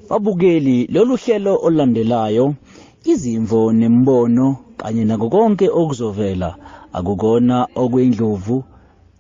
Babukeli lolu hlelo olulandelayo izimvo nembono kanye nako konke okuzovela akukona okwendlovu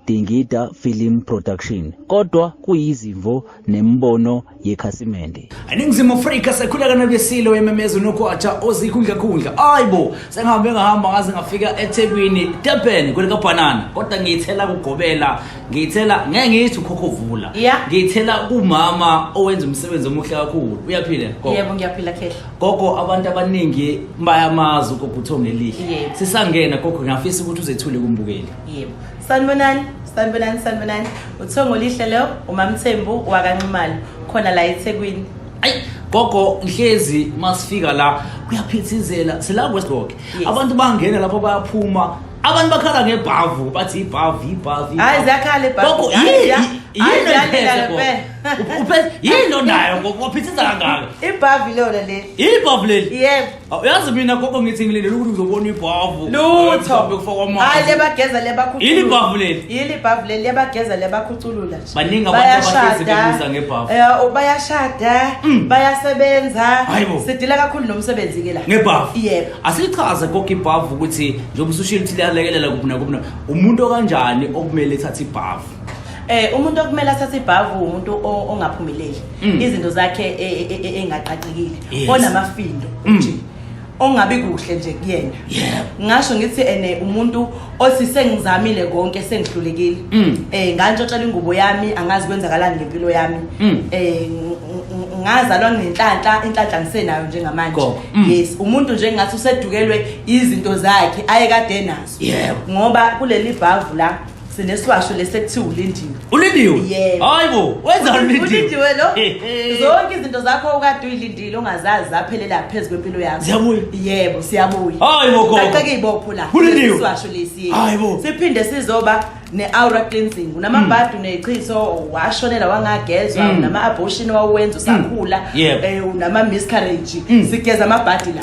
Dingida Film Production kodwa kuyizimvo nembono yekhasimende eNingizimu Afrika sekhula kanabesile wememeza unokwatsha ozikhundla khundla ayibo sengihambe ngahamba ngaze ngafika eThekwini Durban kwelikabhanana kodwa ngiyithela kugobela ngiyithela ngeke ngiyithi ukhokho vula Yeah. ngiyithela kumama owenza umsebenzi omuhle kakhulu uyaphila gogo yebo ngiyaphila khehla gogo abantu abaningi bayamazi ugogo uthonga elihle Yebo. sisangena gogo ngiyafisa ukuthi uzethule kumbukeli yebo sanibonani sanibonani sanibonani uthongo lihle leyo umamthembu wakanxumalo khona la ethekwini ayi gogo ngihlezi masifika la kuyaphithizela sila westgok Yes. abantu bangena lapho bayaphuma abantu bakhala ngebhavu bathi ibhavu ibhavu hayi ziyakhala ibhavu yini lo nayo ngophithisa kangaka ibhavu ilona leli ibhavu leli yebo uyazi mina gogo ngithi ngilindele ukuthi ngizobona ibhavu lutho hayi lebageza lebakhuculula yini ibhavu leli yini ibhavu leli lebageza lebakhuculula nje baningi abantu abahlezi bebuza ngebhavu eh, bayashada mm. bayasebenza sidila kakhulu nomsebenzi ke la ngebhavu yebo asichaze konke ibhavu ukuthi njengoba usushilo ukuthi liyalekelela kuphi nakuphi na- umuntu okanjani okumele ethathe ibhavu Eh umuntu okumele athathe ibhavu umuntu o- ongaphumeleli. Mm. Izinto zakhe e- e- e- e- engaqaqekile. Yes. Onamafindo Mm. nje. Ongabi kuhle nje kuyena. Yebo. Ngasho ngithi ene umuntu othi sengizamile konke sengihlulekile mm. eh ngantshotshela ingubo yami angazi kwenzakalani ngempilo yami mm. eh ngazalwa ngenhlanhla inhlanhla ngisenayo njengamanje mm. yes umuntu nje ngathi usedukelwe izinto zakhe aye kade nazo yebo ngoba kuleli bhavu la sinesiwasho lesekuthiwa ulindiwe ulindiwe yebo hayibo wenza ulindiwe ulindiwe lo zonke izinto zakho ukade uyilindi Dilo ngazazi zaphelela phezu kwempilo yakho. Ziyabuya. Yebo, siyabuya. Hayi bo gogo. Kaqeke ibopho la. Kulindiwe. Siwasho lesi. Hayi bo. Siphinde sizoba ne-aura cleansing unamabhadi mm. unechiso washonela wangagezwa mm. unama-abortion wawenza usakhula mm. um eh, unama-miscarriage sigeza amabhadi la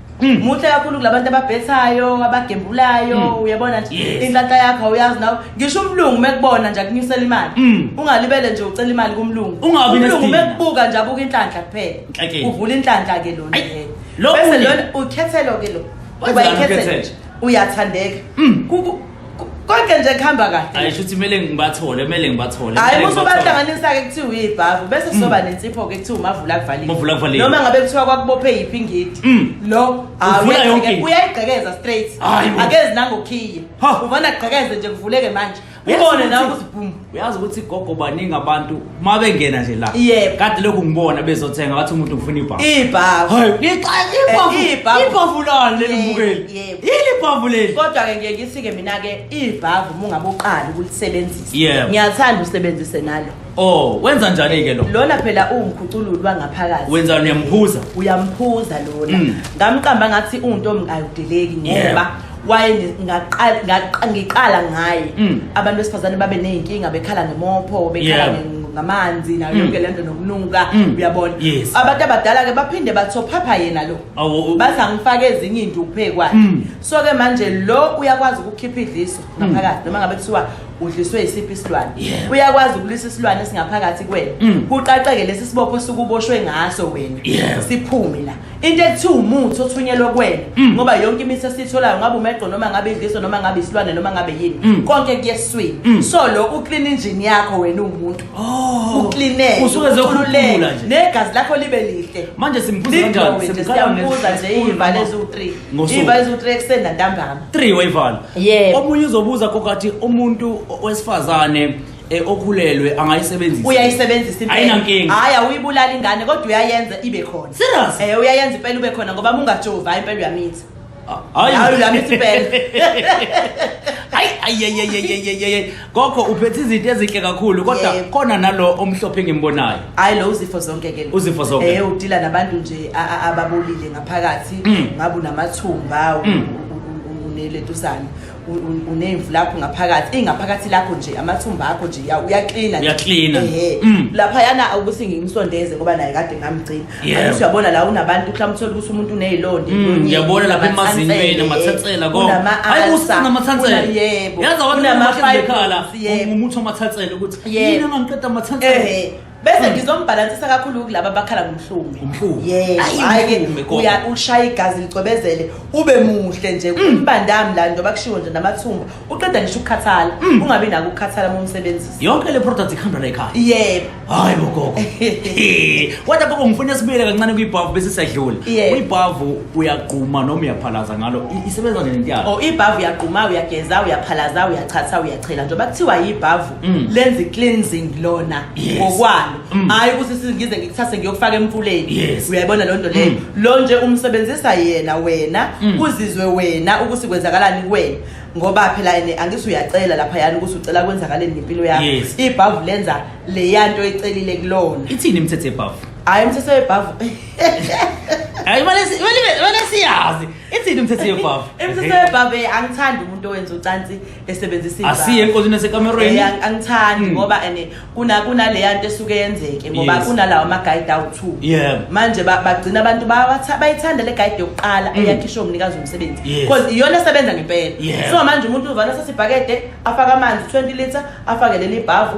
Mm. muhle kakhulu kulabantu ababhethayo abagembulayo mm. uyabona nje yes. inhlahla yakho awuyazi nawe ngisho umlungu mekubona nje akunyusela imali mm. ungalibele nje ucela imali kumlungu umlungu mekubuka nje abuka inhlanhla kuphela okay. uvula inhlanhla ke lona bese lona ukhethelo ke lo uba ikhethelo uyathandeka mm. konke nje kuhamba kahle hayi shuthi kumele ngibathole kumele ngibathole hayi musu bahlanganisa ke kuthiwa uyibhavu bese kuzoba hmm. nensipho ke kuthiwa umavula kuvalile umavula kuvalile noma ngabe kuthiwa kwakubophe yiphi ngidi hmm. lo uvula yonke uyayigqekeza straight akezi nangokhiye uvana gqekeze nje kuvuleke manje ubone nawe uzibhuma uyazi ukuthi gogo baningi abantu uma bengena nje la Yebo. kade lokhu ngibona bezothenga bathi umuntu ngifuna ibhavu ibhavu hayi ngixaye ibhavu Eh, ibhavu. ibhavu lani leli Yebo, mbukeli yebo. yini ibhavu leli kodwa-ke ngiye ngithi-ke mina-ke ibhavu uma ungabe uqali ukulisebenzisa Yebo. ngiyathanda usebenzise nalo oh wenza njani ke lo lona phela uwumkhucululi wangaphakathi wenza niyamkhuza uyamphuza lona Mm. ngamqamba ngathi untombi ayudeleki Yebo. ngoba waye ni- ngaqal- ngaqa- ngiqala ngaye Mm. abantu besifazane babe ney'nkinga bekhala ngemopho bekhala Yeah. nge- ngamanzi nayo Mm. yonke le nto nokunuka Mm. uyabona Yes. abantu abadala-ke baphinde bathophapha yena lo Awu, u- bathi angifake ezinye into ukuphekwayo Mm. so-ke manje lo uyakwazi ukukhipha idliso ngaphakathi noma ngabe kuthiwa udliswe yisiphi isilwane Yeah. uyakwazi ukulisa isilwane esingaphakathi kwena Mm. kuqaqeke lesi sibopho sukuboshwe ngaso wena Yeah. siphume la into ekuthiwa umuthi othunyelwe kwena mm. ngoba yonke imithi esiyitholayo ngabe umegqo noma ngabe idliso noma ngabe isilwane noma ngabe yini mm. konke kuyeswini mm. so lo uclean engine yakho wena uwumuntu oh. ucleaneke usuke zokhululeka nje negazi lakho libe lihle manje simbuza kanjani simbuza nje iyivale eziwu-3 iyivale eziwu-3 ekuseni nantambama 3 wayivala omunye uzobuza kokathi umuntu wesifazane e okhulelwe angayisebenzisa uyayisebenzisa impela ayinankinga hayi awuyibulala ingane kodwa uyayenza ibe khona serious eh uyayenza impela ube khona ngoba mungajovi hayi impela uyamitha hayi hayi uyamitha impela hayi ayeyeyeyeyeye gogo uphethe izinto ezinhle kakhulu kodwa Yebo. khona nalo omhlophe engimbonayo hayi lo uzifo zonke ke lo. Uzifo zonke. eh udila nabantu nje a- a- ababolile ngaphakathi Mm. ngabu namathumba u- Mm. u- u- u- uneletuzane unemvu lakho ngaphakathi ingaphakathi lakho nje amathumba akho nje uyaklina uyaklina mm. lapha yana ukuthi ngimsondeze ngoba naye kade ngamgcina yeah. uyabona la unabantu mhlawumbe uthole ukuthi umuntu unezilonde mm, ngiyabona lapha emazinyweni amathathela ko hayi usana amathathela yebo yazi abantu amakhala umuthi amathathela ukuthi yini angiqeda amathathela bese ngizombhalansisa kakhulu kulaba abakhala ngomhlume Umhlume. yebo Ayi, hhayi-ke umhlume, gogo. uya- ushaya igazi licwebezele ube muhle nje umbandami la njengoba kushiwo nje namathumba uqeda ngisho ukukhathala ungabi nako ukukhathala uma umsebenzisa yonke le product ikhamba la ekhaya yebo hayi bogogo He. kodwa gogo ngifuna sibuyele kancane kwibhavu bese siyadlula Yeah. kwibhavu uyagquma noma uyaphalaza ngalo I- isebenza nje lento yakho o ibhavu uyagquma uyageza uyaphalaza uyachatha uyachela njengoba kuthiwa yibhavu Mm. lenza i-cleansing lona Yes. ngokwalo Mm. hhayi ukuthi singize ngikuthathe ngiyokufaka emfuleni Yes. uyayibona loo nto leyo Mm. lo nje umsebenzisa yena wena Mm. kuzizwe wena ukuthi kwenzakalani kuwena ngoba phela ene angithi uyacela lapha yani ukuthi ucela kwenzakaleni ngempilo yakho Yes. ibhavu lenza leya nto ecelile kulona ithini imithetho yebhavu hhayi umthetho webhavu hayi imali siyazi ithini imithetho yebhavu imithetho webhavu eh, angithandi umuntu owenza ucansi esebenzisa iy'ndaba. asiye enkosini esekamerweni Eh, ang- angithandi Mm. ngoba and kuna kunaleya nto esuke yenzeke ngoba Yes. kunalawa ama-guide awu-two Yeah. manje ba- bagcina abantu bawatha- bayithanda le guide yokuqala eyakhishwe umnikazi womsebenzi Mm. Yes. because iyona esebenza ngempela Yeah. so manje umuntu uvana sasibhakede afake amanzi 20 litre afake leli bhavu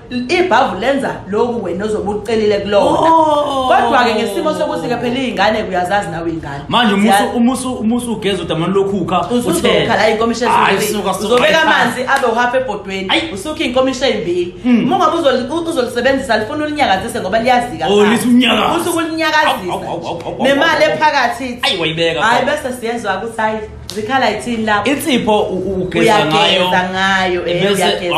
ibhavu lenza lokhu wena ozobe ucelile kulona oh. kodwa-ke ngesimo sokuthi-ke phela iy'ngane kuyazazi nawe iy'ngane manje umusu ugeza udamani lokhukha uzokhala inkomisha uzobeka amanzi abe uhapha ebhodweni usukhe inkomisha eyimbili hmm. uma ungabe uzolisebenzisa lifuna ulinyakazise ngoba liyazikauthi oh, ukulinyakazisa nemali ephakathi hayi bese siyenza ukuthi hayi zikhala ithini lapho insipho ugeza ngayo ugeza ngayo eh, bese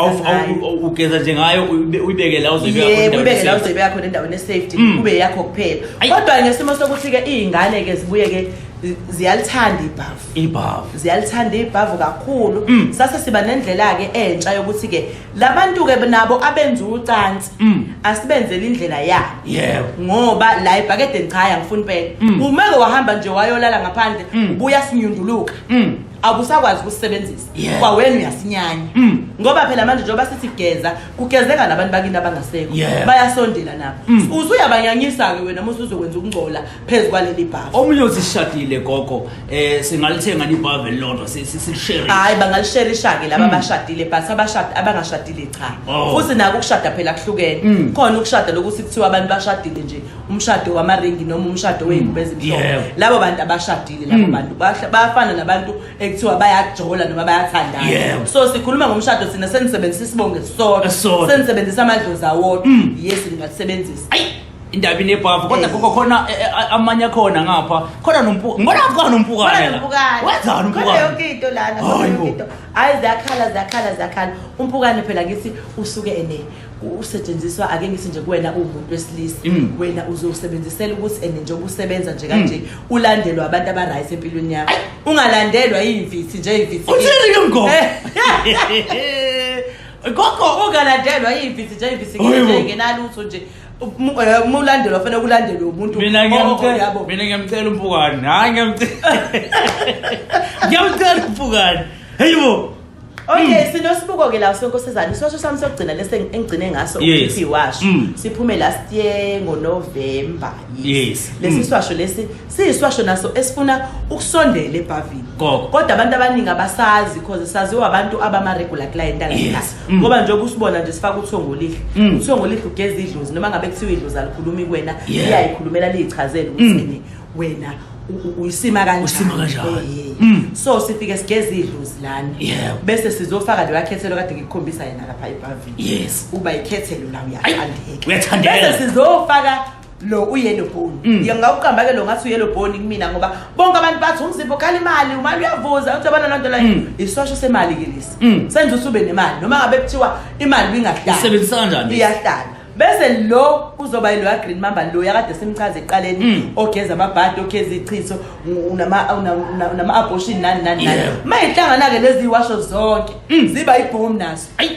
ugeza nje ngayo uyibeke la uzibeka khona yebo uyibeke la uzibeka khona endaweni esafety mm. kube yakho kuphela kodwa ngesimo sokuthi ke izingane ke zibuye ke ziyalithanda ibhavu ibhavu ziyalithanda ibhavu kakhulu mm. sase siba nendlela ke entsha yokuthi ke labantu-ke nabo abenza ucansi mm. asibenzele indlela yabo yebo ngoba la ebhakedeni cha angifuni impela mm. umeke wahamba nje wayolala ngaphandle mm. ubuya sinyunduluka abusakwazi ukusebenzisa kwawena uyasinyanya ngoba phela manje njengoba sithi geza kugezeka nabantu bakini abangasekho bayasondela nabo usuyabanyanyisa-ke wena musa uzokwenza ukungcola phezu kwaleli bhavu omunye uzishadile gogo eh singalithenga libhavu elilodwa sisishare hayi bangalishare ishake laba hmm. abashadile but abashadi abangashadile cha oh. futhi nako ukushada phela kuhlukene hmm. khona ukushada lokuthi kuthiwa abantu bashadile nje umshado wamaringi noma umshado hmm. weyingubo ezimhlophe labo bantu abashadile labo bantu bayafana nabantu ekuthiwa bayajola noma bayathandana so sikhuluma ngomshado sina senisebenzisa isibonge sodwa senisebenzisa amadlozi awodwa yes ningasebenzisa indaba inebhavu kodwa Eh. gogo khona eh, eh, amanye akhona ngapha khona nompuka ngibona ngathi khona nompukane la wenzani umpukane umpukane yonke into lana Hayi khona yonke bo. into hayi ziyakhala ziyakhala ziyakhala umpukane phela ngithi usuke ene usetshenziswa ake ngithi nje kuwena uwumuntu wesilisa Mm. wena uzosebenzisela ukuthi ene njengoba usebenza nje kanje Mm. ulandelwa abantu abaright empilweni yakho ungalandelwa yiyimfithi nje yimfithi uthini ke mgogo Eh. gogo ungalandelwa yiyimfithi nje yimfithi Hayi bo. ngenalutho nje eh, uma ulandelwa kufanele kulandelwe umuntu mina ngiyamcela mina ngiyamcela umpukane hayi ngiyamcela ngiyamcela umpukane heyi bo Okay hmm. sinosibuko ke la sonkosizana isosho sami sokugcina lese engigcine ngaso ukuthi washo hmm. siphume last year ngo November yes lesi hmm. swasho lesi siyiswasho naso esifuna ukusondela ebhavini kodwa abantu abaningi abasazi because saziwa abantu abama regular client la Mm. ngoba njengoba usibona nje sifaka uthongo lihle mm. uthongo lihle ugeza idlozi noma ngabe kuthiwa idlozi alikhulumi kuwena iyayikhulumela liyichazele ukuthi mm. yini wena uyisima kanjaniusima kanjani so sifike sigeza idlozi lana bese sizofaka leyo akhethelo kade ngikukhombisa yena lapha ebhavini uba ikhethelo la uyathandeka bese sizofaka lo uyellow bone mm. ngiye ngawuqamba ke lo ngathi uyellow bone kumina ngoba bonke abantu bathi umzimba ukhala imali umali uyavuza uthi abana lonto leyo mm. isosho semali ke lesi mm. senza usube nemali noma ngabe kuthiwa imali ingahlala isebenzisa kanjani iyahlala bese lo kuzoba yilo ya green mamba lo yakade simchaze eqaleni ogeza amabhadi ogeza ichitho unama unama abortion nani nani nani mayihlangana ke lezi washo zonke ziba ibhomu naso ayi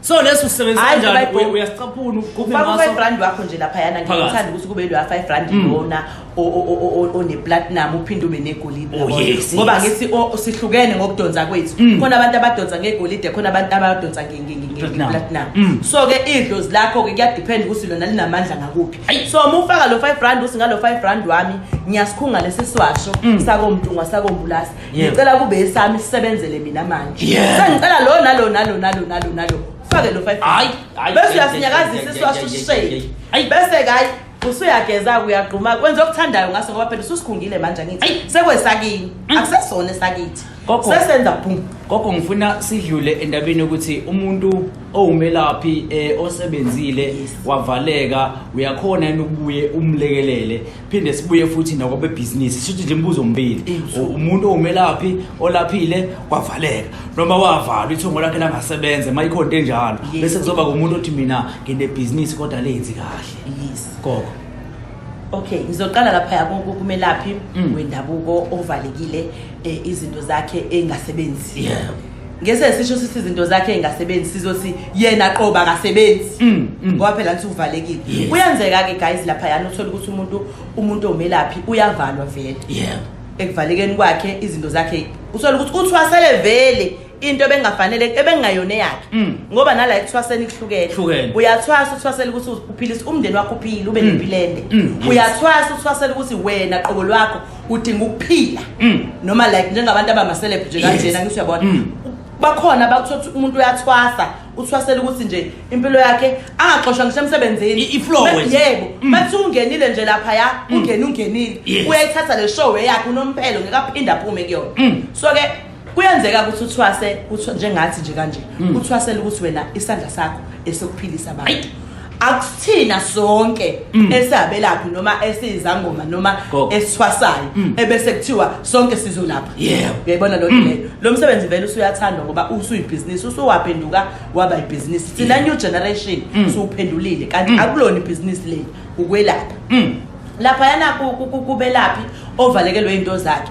so leso usebenzisa Hayi, kanjani Bible. Uya- uyasicaphuna ugubhe ufaka ngaso u-five rand wakho nje laphayana Phakathi. ngithanda ukuthi kube loya five rand Mm. lona o- o- o- o- oneplatinum uphinde ube negolide Oh, yabona? yes, ngoba yes. Mm. ngithi o- sihlukene ngokudonsa kwethu khona abantu abadonsa ngegolide khona abantu abadonsa nge- nge- nge- Platinum. ngeplatinum Mm. so-ke idlozi lakho-ke kuyadiphenda ukuthi lona linamandla ngakuphi Ayi. so uma ufaka lo five rand uthi ngalo five rand wami ngiyasikhunga lesi siwasho Mm. sakomntungwa sakombulasi Yebo. ngicela kube esami sisebenzele mina manje Yeah. sengicela lo nalo nalo nalo nalo nalo fake lo 5 Hayi, hayi, bese hayi, uyasinyakazisa hayi, isiwaso hayi, hayi, sishake hayi, hayi. bese-ke hayi usuyageza uyagquma kwenza okuthandayo ngaso ngoba phela ususikhungile manje angithi Hayi. sekwesakini akusesona esakithi Gogo. sesenza bhum gogo ngifuna sidlule endabeni yokuthi umuntu owumelaphi eh, osebenzile Yes. wavaleka uyakhona yini ukubuye umlekelele phinde sibuye futhi nakwabebhizinisi sithuthi nje imibuzo omibili umuntu owumelaphi olaphile kwavaleka noma wavalwa ithongo lakhe langasebenze uma ikhona into enjalo bese kuzoba kumuntu othi mina nginebhizinisi kodwa lenzi kahle gogo okay ngizoqala lapha kumelaphi mm. wendabuko ovalekile eh, izinto zakhe engasebenzi yeah ngese sisho sithi izinto zakhe engasebenzi sizothi yena qoba akasebenzi mm, mm. ngoba phela nthi uvalekile kuyenzeka ke guys lapha yana uthola ukuthi umuntu umuntu omelaphi uyavalwa vele yeah ekuvalekeni kwakhe izinto zakhe uthola ukuthi uthwasele vele into ebengafanele ebengayona yakhe mm. ngoba nala ekuthwaseni kuhlukene uyathwasa uthwasela ukuthi uphilisa umndeni wakho uphile ube nempilende uyathwasa uthwasela ukuthi wena qobo lwakho udinga ukuphila mm. noma like njengabantu abamaselebhu nje kanjena ngisho yabona mm. bakhona bakuthothi umuntu uyathwasa uthwasela ukuthi nje impilo yakhe angaxoshwa ngisho emsebenzini yebo mm. bathi ungenile nje lapha ya ungene ungenile uyayithatha le show yakhe unomphelo ngekaphinde aphume kuyona so ke kuyenzeka ukuthi uthwase kuthiwa njengathi nje kanje mm. uthwasele ukuthi wena isandla sakho esokuphilisa abantu akusithina sonke mm. esabelaphi noma esizangoma noma esithwasayo mm. ebese kuthiwa sonke sizolapha yebo uyayibona lo mm. leyo lo msebenzi vele usuyathandwa ngoba usuyibhizinisi usuwaphenduka waba ibhizinisi thina new generation siwuphendulile kanti akulona ibhizinisi leli ukwelapha lapha yana kubelaphi ovalekelwe into zakhe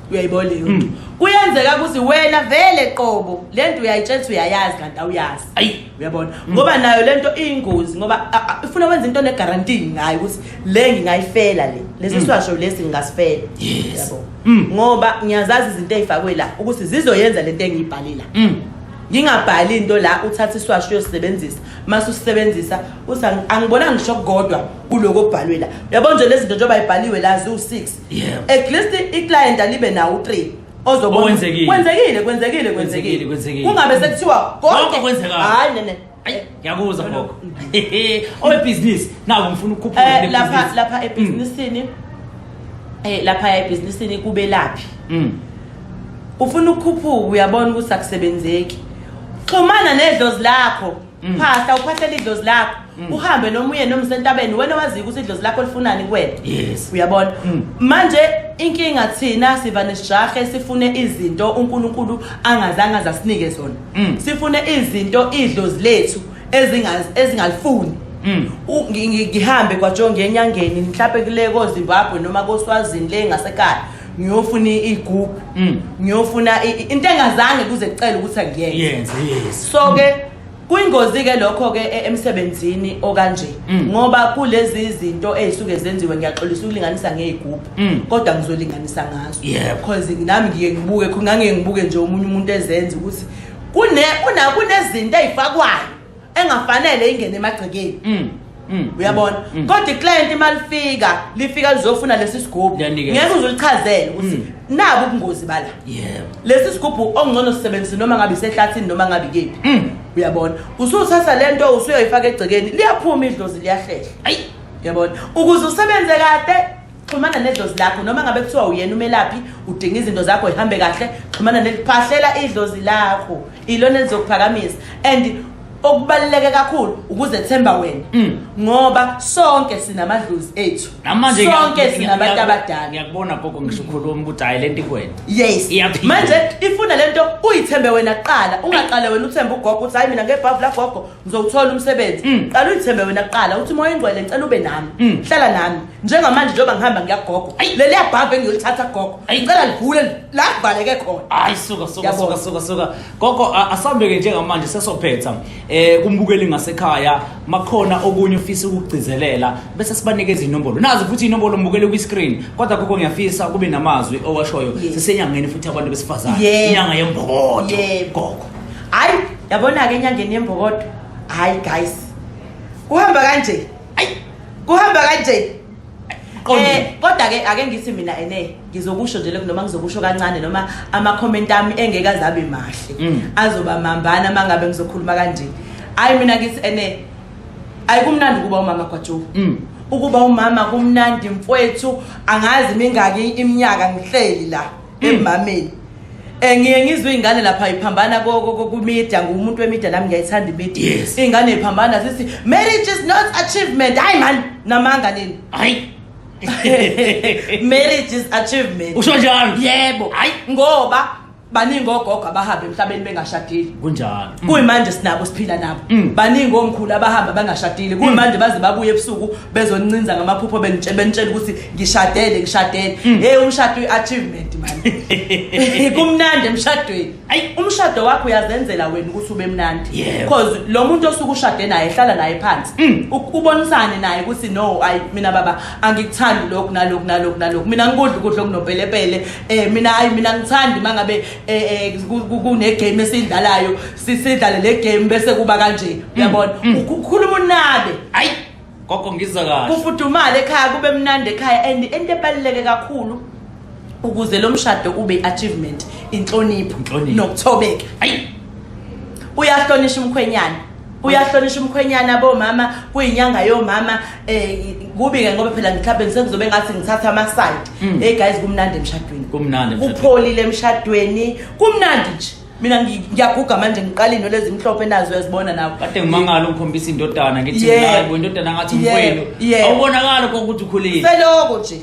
uyayibona leyo nto Mm. kuyenzeka ukuthi wena vele qobo le nto uyayitshela ukuthi uyayazi kanti awuyazi Ayi. uyabona ngoba nayo le nto iyingozi ngoba a- a- ifuna wenza into onegarantii ngayo ukuthi le ngingayifela le lesi siwasho lesi ngingasifela Yes. Uyabo? Mm. ngoba ngiyazazi izinto ey'fakwe la ukuthi zizoyenza le nto engiyibhale la Mm. ngingabhali into la uthatha isiwasho uyosisebenzisa mase usisebenzisa uthi "Angi- angibonanga ngisho kodwa kuloko okubhalwe la uyabona nje lezi zinto njengoba ibhaliwe la ziwu-six yebo at least i client alibe nawo 3 ozobona kwenzekile kwenzekile kwenzekile kwenzekile kungabe sekuthiwa konke kwenzeka hayi nene ngiyakuzwa gogo owebhizinisi naku ngifuna ukukhuphula eh, lapha lapha mm. ebhizinisini eh lapha ebhizinisini kubelaphi mm. ufuna ukukhuphuka uyabona ukuthi akusebenzeki xhumana nedlozi lakho Mm. phasta uphathela idlozi lakho mm. uhambe noma uye noma usentabeni wena waziyo ukuthi idlozi lakho lifunani kuwena yes uyabona mm. manje inkinga thina siva nesijahe sifune izinto uNkulunkulu angazange azasinike zona mm. sifune izinto idlozi lethu ezingazi ezingalifuni Mm. ngihambe kwajonge enyangeni mhlawumbe kule kozimbabwe noma koswazini le ngasekhaya ngiyofuna igroup mm. ngiyofuna into engazange kuze kucela ukuthi angiyenze so ke kuyingozi ke lokho ke e, emsebenzini okanje mm. ngoba kulezi izinto ezisuke zenziwe ngiyaxolisa ukulinganisa ngezigubhu mm. kodwa ngizolinganisa ngazo because nami ngike ngibuke khona ngangiye ngibuke nje umunye umuntu ezenza ukuthi kune kunezinto ezifakwayo engafanele ingene emagcekeni mm. Mm. uyabona mm. kodwa iclient imalifika lifika lizofuna lesi sigubhu ngeke uzulichazele ukuthi mm. nabu ubungozi bala lesi sigubhu ongcono sisebenzise noma ngabe isehlathini noma ngabe ikephi uyabona usuthatha le nto usuyoyifaka egcekeni liyaphuma idlozi liyahlehla uyabona ukuze usebenze kade xhumana nedlozi lakho noma ngabe kuthiwa uyena umelaphi udinga izinto zakho ihambe kahle xhumana neliphahlela idlozi lakho ilona elizokuphakamisa and okubaluleke kakhulu ukuzethemba wena mm. ngoba sonke sinamadlozi ethu sonke sinabantu abadala ngiyakubona gogo ngisho ukhuluma ukuthi hayi lento ikwena yes manje ifuna lento uyithembe wena kuqala ungaqale wena uthembe ugogo ukuthi hayi mina ngebhavu lagogo ngizowuthola umsebenzi mm. qala uyithembe wena kuqala uthi moya ingcwele ngicela ube nami mm. hlala nami njengamanje njengoba ngihamba ngiyagogo leli yabhabha engiyolithatha gogo ngicela livule la kuvaleke khona hayi suka suka suka suka suka gogo asambeke njengamanje sesophetha eh kumbukeli ngasekhaya makhona okunye ufisa ukugcizelela bese sibanikeza inombolo nazi futhi inombolo mbukele kwi screen kodwa gogo ngiyafisa kube namazwi owashoyo sisenyangeni futhi abantu besifazane inyanga yembokodo gogo hayi yabona-ke enyangeni yembokodo hayi guys kuhamba kanje ayi kuhamba kanje Eh kodwa ke ake ngithi mina ene ngizokusho nje noma ngizokusho kancane noma ama comment ami engeke azabe mahle mm. azoba mambana mangabe ngizokhuluma kanje hayi mina ngithi ene ayikumnandi kuba umama kwaJoe mm. ukuba umama kumnandi mfwethu angazi mingaki iminyaka ngihleli la emameni Eh ngiye ngizwe izingane lapha iphambana kokumedia ngumuntu wemedia nami ngiyayithanda imedia. Yes. Ingane iphambana sithi marriage is not achievement. Hayi man namanga nini? Hayi. marriage is achievement. Usho njalo? Yebo. Hayi ngoba baningi ogogo abahamba emhlabeni bengashadile kunjalo kuyimanje sinabo siphila nabo mm. baningi omkhulu abahamba bangashadile kuyimanje baze babuye ebusuku bezoncinza ngamaphupho benitshela ukuthi ngishadele ngishadele mm. hey umshado uyi-achievement mani kumnandi emshadweni ayi umshado wakho uyazenzela wena ukuthi ube mnandi because lo muntu osuke ushade naye ehlala naye phansi mm. ubonisane naye ukuthi no ayi mina baba angikuthandi lokhu nalokhu nalokhu nalokhu mina ngikudla ukudla okunopelepele um eh, mina ayi mina ngithandi uma ngabe eh, eh, kunegame esiyidlalayo sidlale le game bese kuba kanje mm. uyabona ukhuluma unabe ayi Gogo ngiza kahle. Kufudumala ekhaya kube mnandi ekhaya and into ebaluleke kakhulu ukuze lo mshado ube achievement inhlonipho Inhlonipho. nokuthobeka. Ayi. Uyahlonishwa umkhwenyana. Uyahlonishwa umkhwenyana bomama kuyinyanga yomama eh kubi ke ngoba phela mhlawumbe ngisengizobe ngathi ngithatha ama side. Mm. Hey guys kumnandi emshadweni. Kumnandi emshadweni. Kupholile emshadweni. Kumnandi nje. mina ngiyaguga manje ngiqala into lezi mhlophe nazo uyazibona nawo kade ngimangala ungikhombisa indodana ngithi nayibo indodana ngathi mfwenu awubonakala kokuthi ukhulile seloko nje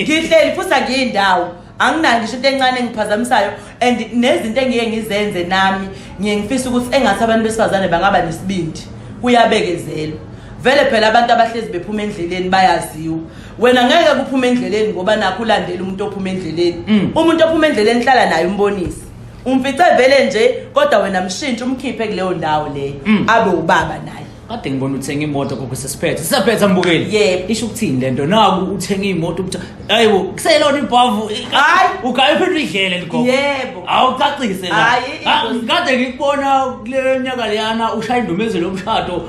ngihleli futhi angiyindawo anginayo ngisho into encane engiphazamisayo and nezinto engiye ngizenze nami ngiye ngifisa ukuthi engathi abantu besifazane bangaba nesibindi kuyabekezelwa vele phela abantu abahlezi bephuma endleleni bayaziwa wena ngeke kuphume endleleni ngoba nakho ulandela umuntu ophuma endleleni mm. umuntu ophuma endleleni hlala naye umbonise umfice vele nje kodwa wena mshintshe umkhiphe kuleyo ndawo leyo mm. abe ubaba naye kade ngibona uthenga imoto kokho sesiphethe sisaphetha mbukeli yebo isho ukuthini lento naku uthenga imoto ukuthi hayibo kuselona ibhavu hayi ugaye phela idlele ligogo yebo awucacise la hayi kade ngikubona kule nyaka leyana ushaya indumezelo yomshado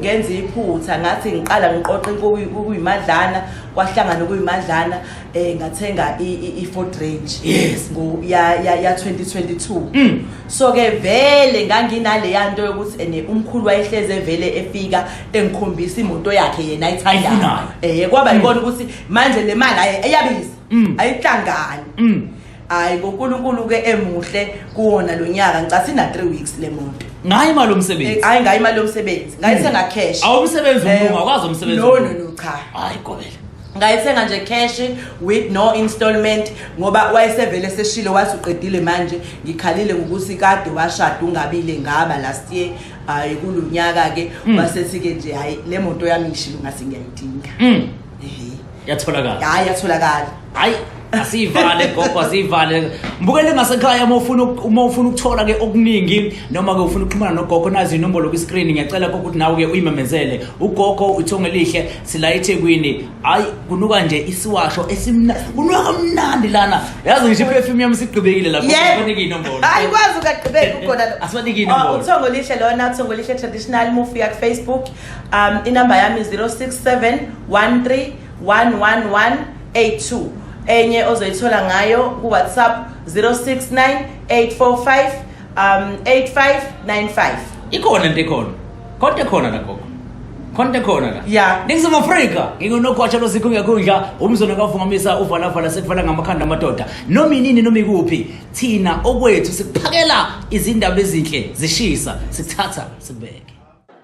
ngenza iphutha ngathi ngiqala ngiqoqe kuyimadlana kwahlangana kuyimadlana eh ngathenga i-ford range yes ya-2022 mm. so-ke vele nganginaleya nto yokuthi ene umkhulu wayehleze vele efika engikhombisa imoto yakhe yena ayithandayo um eh, kwaba mm. yikona ukuthi manje le mali aye eyabisa mm. ayihlangani hayi konkulunkulu ke emuhle kuwona lo nyaka ngicatha ina 3 weeks le moto ngayo imali yomsebenzi hayi ngayo imali yomsebenzi ngayithenga hmm. cash awumsebenzi eh, umlungu akwazi umsebenzi no no no cha hayi gobela ngayithenga nje cash with no installment ngoba wayesevele seshile wathi uqedile manje ngikhalile ngokuthi kade washada ungabile ngaba last year hayi kulonyaka ke hmm. wasethi ke nje hayi le moto yami ngishilo ngase ngiyayidinga hmm. yatholakala hayi yatholakala hayi asiyivale gogo asiyivale mbukele ngasekhaya uma ufuna uma ufuna ukuthola ke okuningi noma ke ufuna ukuxhumana nogogo nazi inombolo kwi screen ngiyacela gogo ukuthi nawe ke uyimemezele ugogo uthonge lihle sila eThekwini hayi kunuka nje isiwasho esimnandi kunuka kamnandi lana yazi ngisho perfume yami sigqibekile lapho kufanele inombolo hayi kwazi ukagqibeka ukhona asibanike inombolo uthongo lihle lona uthongo lihle traditional move yak Facebook um inamba yami 067 13 111 82 enye ozoyithola ngayo kuwhatsapp 069 845 um 8595 ikhona into ekhona konke khona la gogo konke khona la ya ningizimu afrika ngingunogwatsha losikhu ngekhundla umzona kavungamisa uvalafala sekufana ngamakhanda amadoda noma inini noma ikuphi thina okwethu sikuphakela izindaba ezinhle zishisa sithatha sibeke